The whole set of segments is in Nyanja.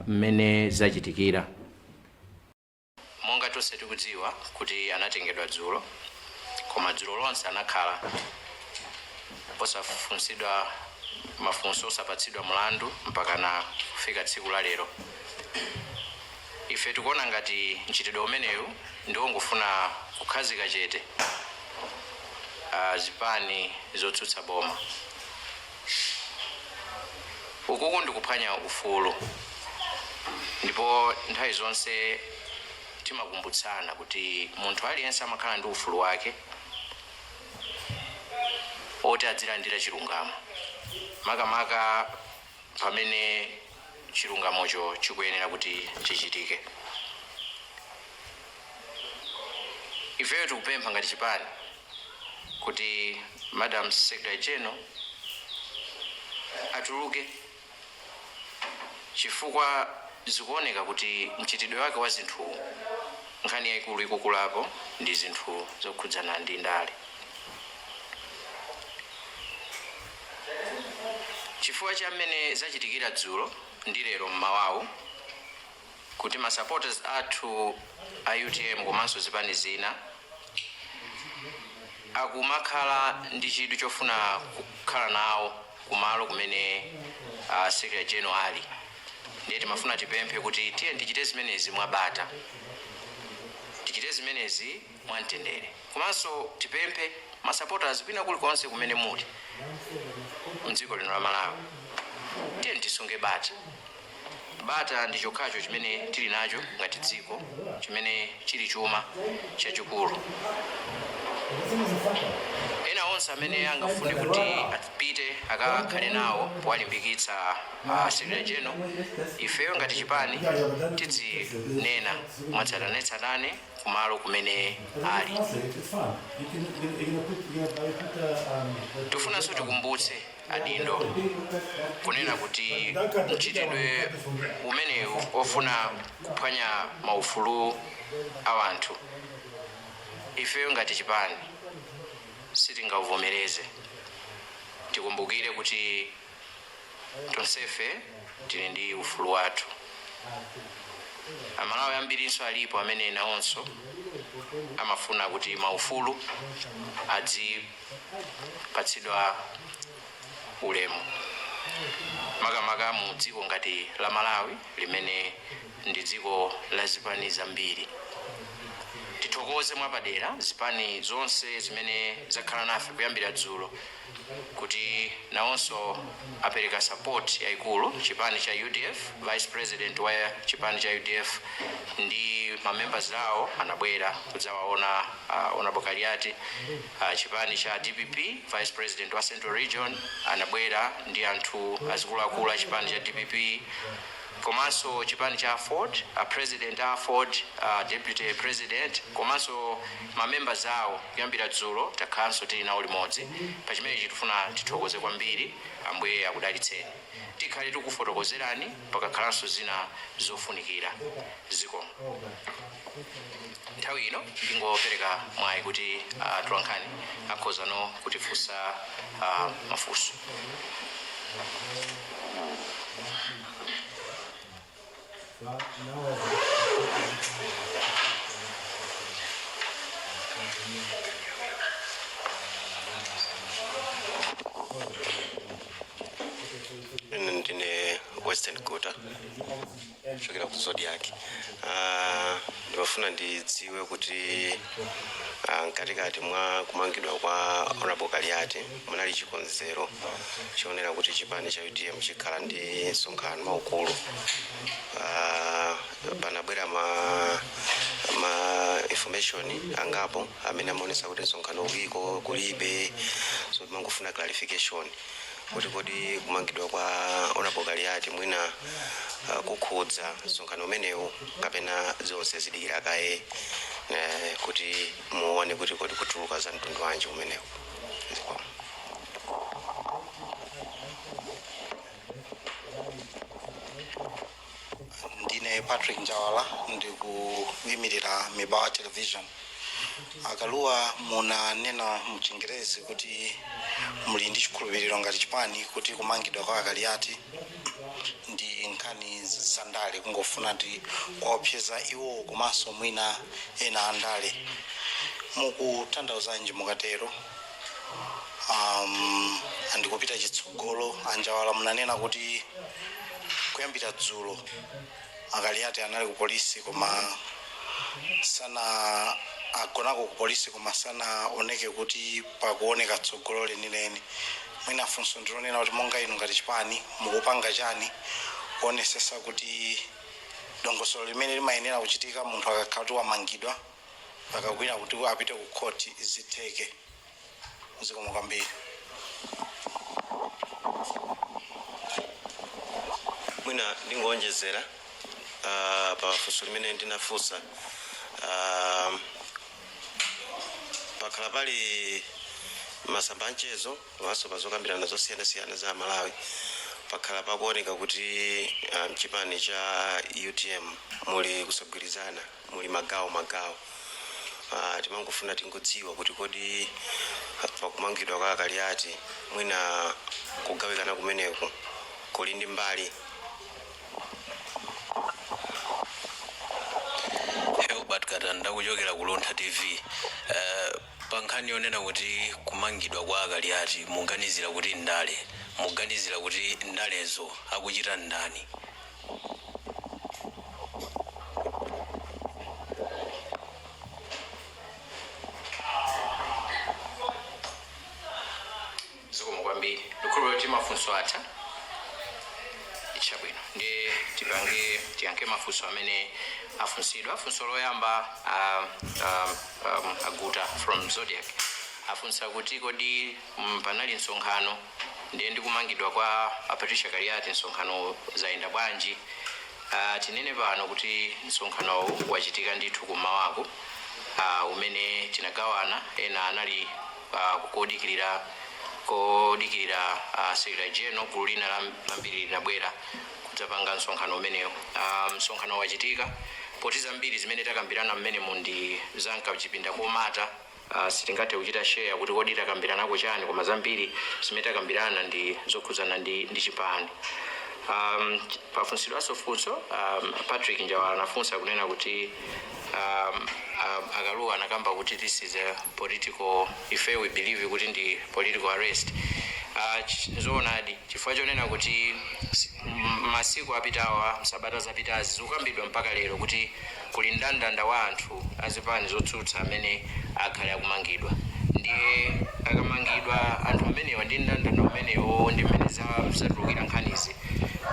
mmene zachitikira. Monga tonse tikudziwa kuti anatengedwa dzulo koma dzulo lonse anakhala osafunsidwa mafunso, osapatsidwa mlandu mpakana kufika tsiku la lero. Ife tikuona ngati mchitidwe umenewu ndi wongofuna kukhazika chete zipani zotsutsa boma. ukuku ndikuphwanya ufulu ndipo nthawi zonse timakumbutsana kuti munthu aliyense amakhala ndi ufulu wake oti adzilandira chilungamo makamaka pamene chilungamocho chikuyenera kuti chichitike ifeyo tikupempha ngati chipani kuti madam secretary general atuluke chifukwa zikuoneka kuti mchitidwe wake wa zinthu nkhani yayikulu ikukulapo ndi zinthu zokhudzana ndi ndale chifukwa cha mmene zachitikira dzulo ndi lero mmawawu kuti ma supporters athu a utm komanso zipani zina akumakhala ndi chidwi chofuna kukhala nawo kumalo kumene uh, secretary general ali ndiye timafuna tipemphe kuti tiyeni tichite zimenezi mwabata tichite zimenezi mwamtendere komanso tipemphe ma supporters kwina kulikonse kumene muli mdziko lino la Malawi tiyeni tisunge bata bata ndi chokhacho chimene tili nacho ngati dziko chimene chili chuma chachikulu ena onse amene angafune kuti apite akakhale nawo powalimbikitsa uh, secretary general ifeyo ngati chipani tidzinena mwatsatanetsatane kumalo kumene ali tifunanso tikumbutse adindo kunena kuti mchitidwe umenewu ofuna kuphwanya maufulu a wanthu ifeyo ngati chipani sitingauvomereze tikumbukire kuti tonsefe tili ndi ufulu wathu amalawi ambirinso alipo amene nawonso amafuna kuti maufulu adzipatsidwa ulemu makamaka mu dziko ngati la malawi limene ndi dziko la zipani zambiri tithokoze mwapadera zipani zonse zimene zakhala nafe kuyambira dzulo kuti nawonso apereka support yaikulu chipani cha udf vice president wa chipani cha udf ndi ma members awo anabwera kudzawaona uh, honorable kaliati uh, chipani cha dpp vice president wa central region anabwera ndi anthu azikuluakulu a chipani cha dpp komanso chipani cha aford, a president a aford, a deputy president komanso ma members awo kuyambira dzulo takhalanso tili nawo limodzi pa chimenechi tifuna tithokoze kwambiri ambuye akudalitseni tikhale tikufotokozerani pakakhalanso zina zofunikira zikomo. nthawi ino ndingopereka mwayi kuti ah, atolankhani akhoza no kutifunsa ah, mafunso ine ndine western quarter kuchokera ku zodiac Ah, ndimafuna ndidziwe kuti ah, mkatikati mwa kumangidwa kwa honorable kaliati munali chikonzero choonera kuti chipani cha utm chikhala ndi msonkhano waukulu Ah, panabwera ma, ma information angapo amene amaonesa kuti msonkhano uliko kulibe so timangofuna clarification kuti kodi kumangidwa kwa Honorable Kaliati mwina uh, kukhudza msonkhano umenewu kapena zonse zidikira kaye eh, kuti muone kuti kodi kutuluka za mtundu wanji umenewu Zikomo. ndine patrick njawala ndikuyimirira mibawa television a Kalua munanena mchingerezi kuti muli ndi chikhulupiriro ngati chipani kuti kumangidwa kwa a Kaliati ndi nkhani zandale kungofuna kuwaopseza iwo komanso mwina ena andale mukutanthauzanji mukatero um, ndikupita chitsogolo a Njawala munanena kuti kuyambira dzulo a Kaliati anali ku polisi koma sana agonako ku polisi koma sanaoneke kuti pakuoneka tsogolo lenileni mwina funso ndilonena kuti monga inu ngati chipani mukupanga chani kuonesesa kuti dongosolo limene limayenera kuchitika munthu akakhala kuti wamangidwa akakwiya kuti apite ku khoti zitheke zikomo kwambiri mwina ndingonjezera ah, pa funso limene ndinafunsa Ah, pakhala pali masamba anchezo komanso pa zokambirana zosiyanasiyana za malawi pakhala kukuoneka kuti ah, mchipani cha utm muli kusagwirizana muli magawo magawo ah, timangofuna tingodziwa kuti kodi pakumangidwa kwa akaliati mwina kugawikana kumeneko kuli ndi mbali Herbert katanda kuchokera ku luntha tv Eh, pa nkhani yonena kuti kumangidwa kwa akaliati muganizira kuti ndale muganizira kuti ndalezo akuchita nndani zikomo kwambiri ndikhulupirira kuti mafunso atha chabwino ndi tiyankhe mafunso amene afunsidwa funso loyamba ah, ah, um, aguta from Zodiak afunsa kuti kodi mm, panali msonkhano Ndiye ndi kumangidwa kwa a Patricia Kaliati msonkhanowo zayenda bwanji? Uh, tinene pano kuti msonkhanowu wachitika ndithu kummawaku uh, umene tinagawana ena anali uh, kodikirira kodikirira uh, Secretary General gulu lina lam- lambiri linabwera kudzapanga msonkhano umenewo. Uh, msonkhano wachitika poti zambiri zimene takambirana mmene mundi zamka kuchipinda komata Aaa sitingathe kuchita share kuti kodi takambiranako chani koma zambiri zimene takambirana ndi zokhudzana ndi ndi chipani aam pafunsidwanso funso aam Patrick Njawala anafunsa kunena kuti aam aam Akaluwa anakamba kuti this is a political if we believe kuti ndi political arrest aah nzoonadi chifukwa chonena kuti si masiku apitawa msabata zapitazi zikukambidwa mpaka lero kuti Kuli ndandanda wa anthu a zipani zotsutsa amene akhale akumangidwa. Ndiye akamangidwa anthu amenewa ndi mndandanda umenewo ndi mmene za zatulukira nkhanizi,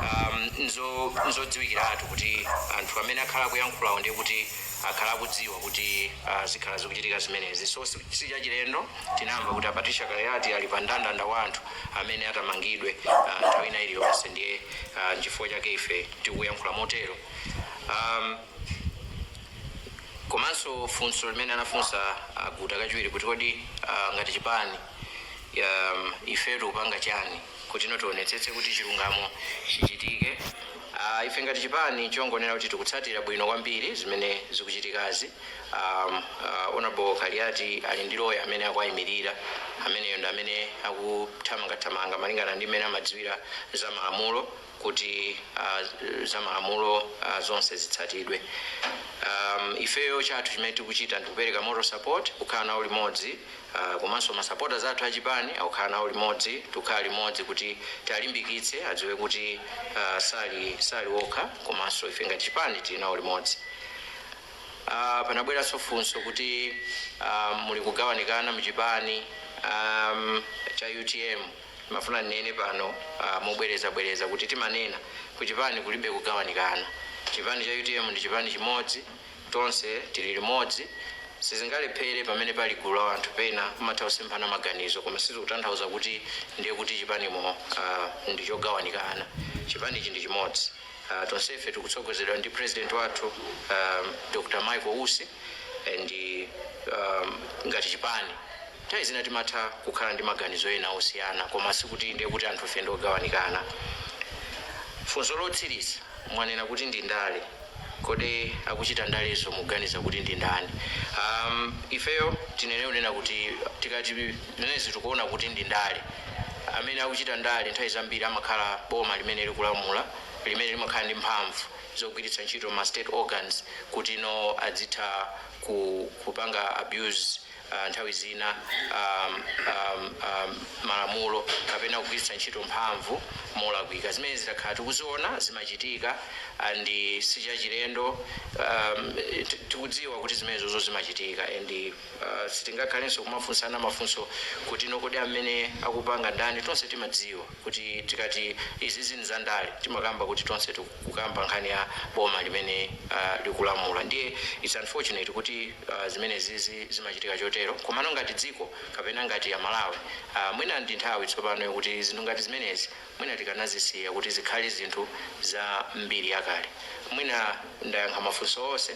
am, nzo, nzodziwikiratu kuti anthu amene akhala akuyankhulawo ndiye kuti akhala akudziwa kuti, ah, zikhala zikuchitika zimenezi. So, si, si chachilendo, tinamva kuti a Patricia Kaliati ali pa ndandanda wa anthu amene atamangidwe, ah, nthawi ina iliyonse. Ndiye, ah, nchifukwa chake ife tikuyankhula motero. Um, komanso funso limene anafunsa a Guta kachiwiri kuti kodi ah, ngati chipani um, ife tikupanga chani kuti no tionetsetse kuti chilungamo chichitike uh, ife ngati chipani chongonena kuti tikutsatira bwino kwambiri zimene zikuchitikazi um, uh, honorable Kaliati ali ndi lawyer amene akuwayimirira ameneyo ndi amene akuthamangathamanga malingana ndi mmene amadziwira za malamulo kuti a za malamulo a zonse zitsatidwe a ifeyo chathu chimene tikuchita ndikupereka moral support kukhala nawo limodzi a komanso ma supporters athu a chipani akukhala nawo limodzi tikukhala limodzi kuti tiwalimbikitse adziwe kuti a sali sali okha komanso ife ngati chipani tili nawo limodzi Ah, panabweranso funso kuti ah, muli kugawanikana mchipani um, cha UTM Ndimafuna ndinene pano mobwereza bwereza kuti timanena ku chipani kulibe kugawanikana. Chipani cha UTM ndi chipani chimodzi tonse tili limodzi sizingalephere pamene pali gulu la anthu pena kumatha kusemphana maganizo koma sizikutanthauza kuti ndiye kuti chipanimo ndi chogawanikana. Chipanichi ndi chimodzi. Tonsefe tikutsogozedwa ndi president wathu Dr Michael Usi and ngati chipani. Nthawi zina timatha kukhala ndi maganizo ena osiyana koma sikuti ndiye kuti anthufe ndi ogawanikana. Funso lotsiriza, mwanena kuti ndi ndale, kodi akuchita ndalezo mukuganiza kuti ndi ndani? Ahm, ifeyo tinene kunena kuti tikati zimenezi tikuona kuti ndi ndale, amene akuchita ndale nthawi zambiri amakhala boma limene likulamula, limene limakhala ndi mphamvu zogwiritsa ntchito ma state organs kuti no adzitha ku kupanga abuse. ah, nthawi zina um, um, um, malamulo kapena kugwiritsa ntchito mphamvu molakwika zimene zidakhala tikuziona zimachitika and sichachilendo um, ti- tikudziwa kuti zimenezozo zimachitika and uh, sitingakhalenso kumafunsana mafunso kuti no kodi amene akupanga ndani tonse timadziwa kuti tikati izizi nzandale timakamba kuti tonse tikukamba nkhani ya boma limene likulamula ndiye its unfortunate kuti zimenezizi zimachitika chotero komano ngati dziko kapena ngati aMalawi mwina ndinthawi tsopano yokuti zinthu ngati zimenezi mwina tikanazisiya kuti zikhale zinthu za mbiri yakale mwina ndayankha mafunso onse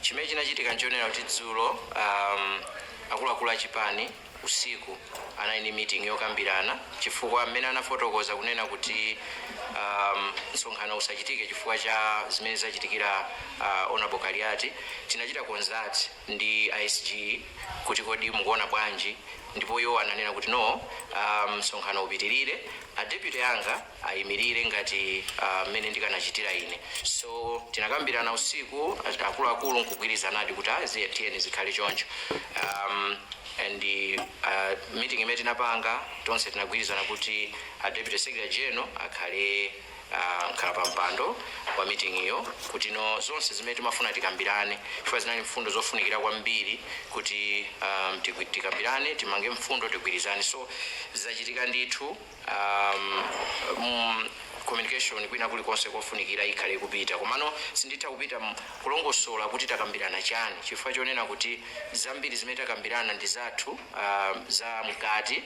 Chimene chinachitika nchonena kuti dzulo am, akuluakulu a chipani usiku anali ndi meeting yokambirana chifukwa mmene anafotokoza kunena kuti am, msonkhano usachitike chifukwa cha zimene zachitikira uh, honorable Kaliati tinachita consult ndi a SG kuti kodi mukuona bwanji ndipo iwo ananena kuti no um, msonkhano upitirire a deputy anga ayimirire ngati mmene uh, ndikanachitira ine so tinakambirana usiku akuluakulu nkugwirizanadi kuti tiyeni zikhale choncho um, and uh, meeting imene tinapanga tonse tinagwirizana kuti a deputy secretary general akhale uh, mkhalapampando wa meeting iyo kuti no zonse zimene timafuna tikambirane chifukwa zinali mfundo zofunikira kwambiri kuti um, tikambirane timange mfundo tigwirizane so zachitika ndithu um, mm, communication kwina kulikonse kofunikira ikhale ikupita komano sinditha kupita mu- kulongosola kuti takambirana chani chifukwa chonena kuti zambiri zimene takambirana ndi zathu um, za mkati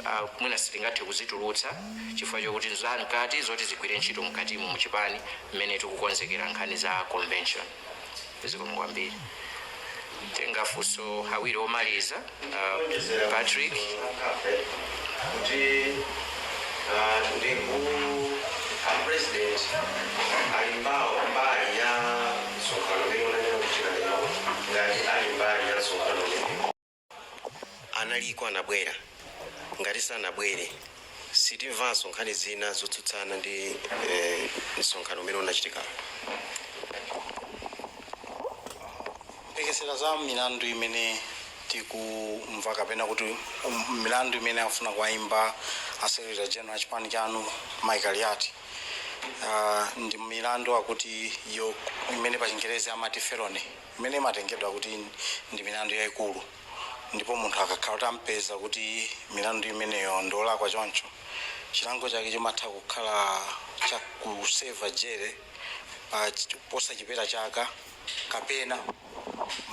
uh, mwina sitingathe kuzitulutsa chifukwa chokuti za mkati zoti zigwire ntchito mkatimo muchipani mmene tikukonzekera nkhani za convention zikomo kwambiri titenga mafunso awiri omaliza uh, patrick kuti ah, ndi ku apresident ali mbawo mbali ya msonkhano umene unachitika lero ngati ali mbali ya msonkhano umene analiko anabwera ngati sanabwere sitimvanso nkhani zina zotsutsana ndi eh, msonkhano umene unachitika lero tikatengera za milandu imene tikumva kapena kuti um, milandu imene afuna kuwaimba a secretary general a chipani chanu mayi Kaliati uh, ndi milandu akutiyo imene pachingerezi amati felony Imene imatengedwa kuti ndi milandu yaikulu ndipo munthu akakhala kuti amupeza kuti milandu imeneyo ndi wolakwa choncho, chilango chake chimatha kukhala cha kuseva jere posachepera chaka kapena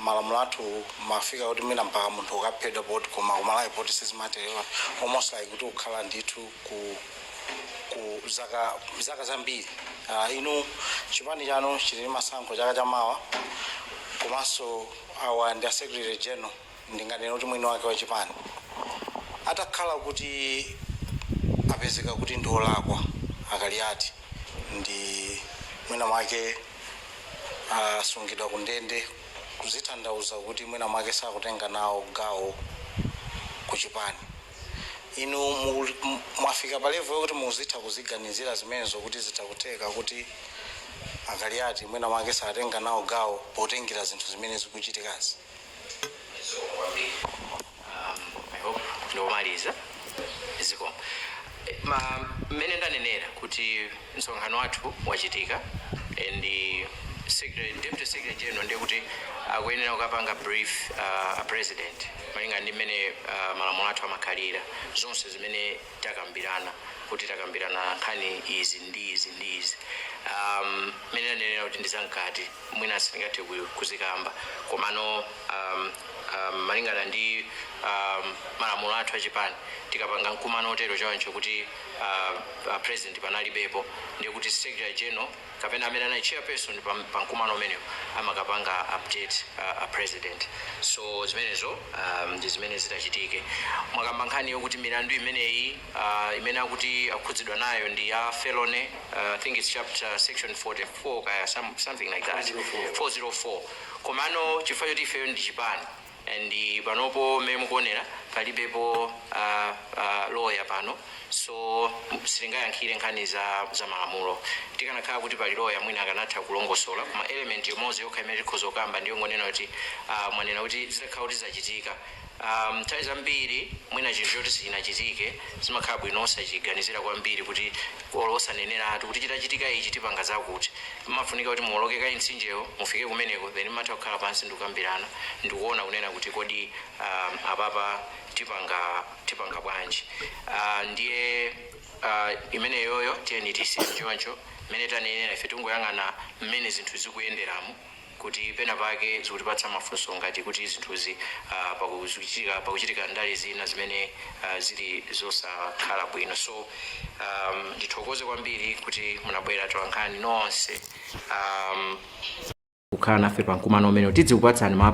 malamulo athu amafika kuti mwina mpaka munthu kukaphedwa poti koma ku Malawi poti sizimatero, almost like kuti kukhala ndithu ku. ku zaka zaka zambiri Ah, inu chipani chanu chili ndi masankho chaka chamawa komanso awa ndi a secretary general ndinganena kuti mwini wake wa chipani atakhala kuti apezeka kuti ndi olakwa a Kaliati nde mwina mwake asungidwa ku ndende kudzatanthauza kuti mwina mwake sakutenga nawo gawo ku chipani inu mwafika pa level yokuti muzitha kuziganizira zimenezo kuti zitha kutheka kuti a Kaliati mwina mwake satenga nawo gawo potengera zinthu zimene zikuchitikazi? zikomo kwambiri um, i hope ndiomaliza zikomo Eh, ma mmene ndanenera kuti Msonkhano wathu wachitika and secretary deputy secretary general ndiye kuti akuyenera kukapanga brief a president malingana ndi mmene malamulo athu amakhalira zonse zimene takambirana kuti takambirana nkhani izi ndi izi ndi izi mmene ndanenera kuti ndi zamkati mwina sindingathe kuzikamba komano malingana ndi malamulo athu a chipani tikapanga mkumano wotero choncho kuti a, a president panalibepo ndiye kuti secretary general kapena amene anali chairperson pa, pa mkumano umenewo amakapanga update uh, a president so zimenezo um, ndi zimene zitachitike mwakamba nkhani yokuti milandu imeneyi uh, imene akuti akhudzidwa nayo ndi ya felony uh, i think it's chapter section 44 kaya some, something like that 404 komano chifukwa choti ifeyo ndi chipani and panopo mmene mukuonera palibepo a a lawyer pano so sitingayankhire nkhani za za malamulo tikanakhala kuti pali lawyer mwina akanatha kulongosola koma element imodzi yokha imene tikhoza kukamba ndi yongonena kuti ah, mwanena kuti zitakhala kuti zachitika um, nthawi zambiri mwina chinthu choti sichinachitike zimakhala bwino osachiganizira kwambiri kuti olo osaneneratu kuti chitachitika ichi tipanga zakuti Imafunika kuti muwoloke kaye mtsinjewo, mufike kumeneko, then mumatha kukhala pansi ndi kukambirana ndi kuona kunena kuti kodi aah apapa tipanga tipanga bwanji. Aah ndiye aah imeneyoyo tiyeni tiyisiye choncho, mmene tanenera ife tingoyang'ana mmene zinthu zikuyenderamo. kuti pena pake zikutipatsa mafunso ngati kuti zinthuzi uh, pakuchitika pakuchitika ndale zina zimene uh, zili zosakhala bwino so um, ndithokoze kwambiri kuti munabwera atolankhani nonse um, kukhala nafe pa mkumano umenewu tidzikupatsani ma